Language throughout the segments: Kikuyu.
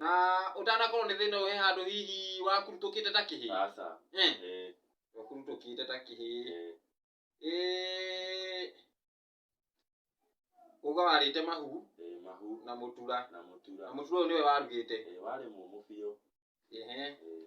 na ũtanakorwo nĩ thĩna ũhe handũ hihi wakurutũkĩte ta kĩhĩ Aca. Eh, Ĩĩ. wakurutũkĩte ta kĩhĩ Ĩĩ. Eh, uga warĩte mahu Ĩĩ, mahu na mũtura na mũtura na mũtura ũyũ nĩwe warugĩte Ĩĩ, warĩ mũmũ biũ Ehe. Ĩĩ.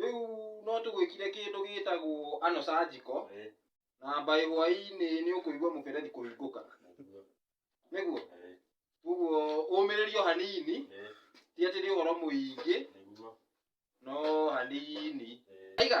rĩu no tũgwĩkire kĩndũ gĩtagwo anocanjiko Eh, na mbaĩ hwaĩ-inĩ nĩ ũkũigua mũberethi kũhingũka nĩguo. nĩguo Eh, koguo ũmĩrĩrio hanini eh, ti atĩ nĩ ũhoro mũingĩ nĩguo. no hanini Eh, aiga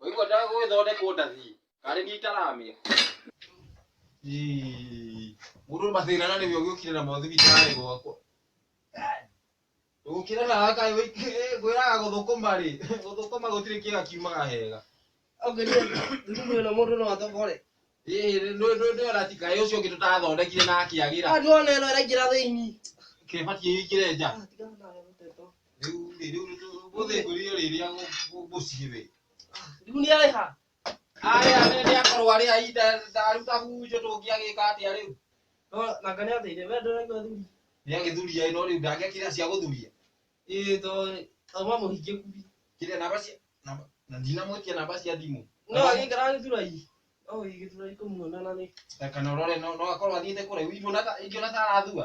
Waigua ndaga gũgĩthondekwo ndathi. Karĩ niĩ itaramĩa. Mũndũ mathĩna na nĩwe ũgĩũkire namo thibitarĩ gwakwa. Ndũgũkĩra na gaka gwĩraga gũthũkũma rĩ, gũthũkũma gũtirĩ kĩga kiumaga hega. Ongeria thumu ĩno mũndũ no athogore. Ndũyona ti kaĩ ũcio ũngĩ tũtathondekire na akĩagĩra. Ah, ndĩrona ĩno ĩraingĩra thĩinĩ. Kĩbatiĩ ĩingĩre nja. Ah, rĩu rĩ, rĩu gũthĩngũrire rĩrĩa gũciĩ we. Ah, rĩu nĩ arĩha. Aya nĩ nĩ akorwo arĩ ai ndaruta hunjũ tũngĩagĩka atĩa rĩu? No na kana ateire we ndũraigua thuri. Nĩ agĩthuria ĩno rĩu ndangĩakĩra cia gũthuria. Ĩĩ to to mamũhingie kubi. Kĩrĩa namba cia namba na ndinamwĩtia namba cia thimũ. No agĩikara agĩthura i. No agĩthura ikũmuona na nĩ. Kana ũrore no no akorwo athiĩte kũraihu ingiona ta ingiona ta arathua.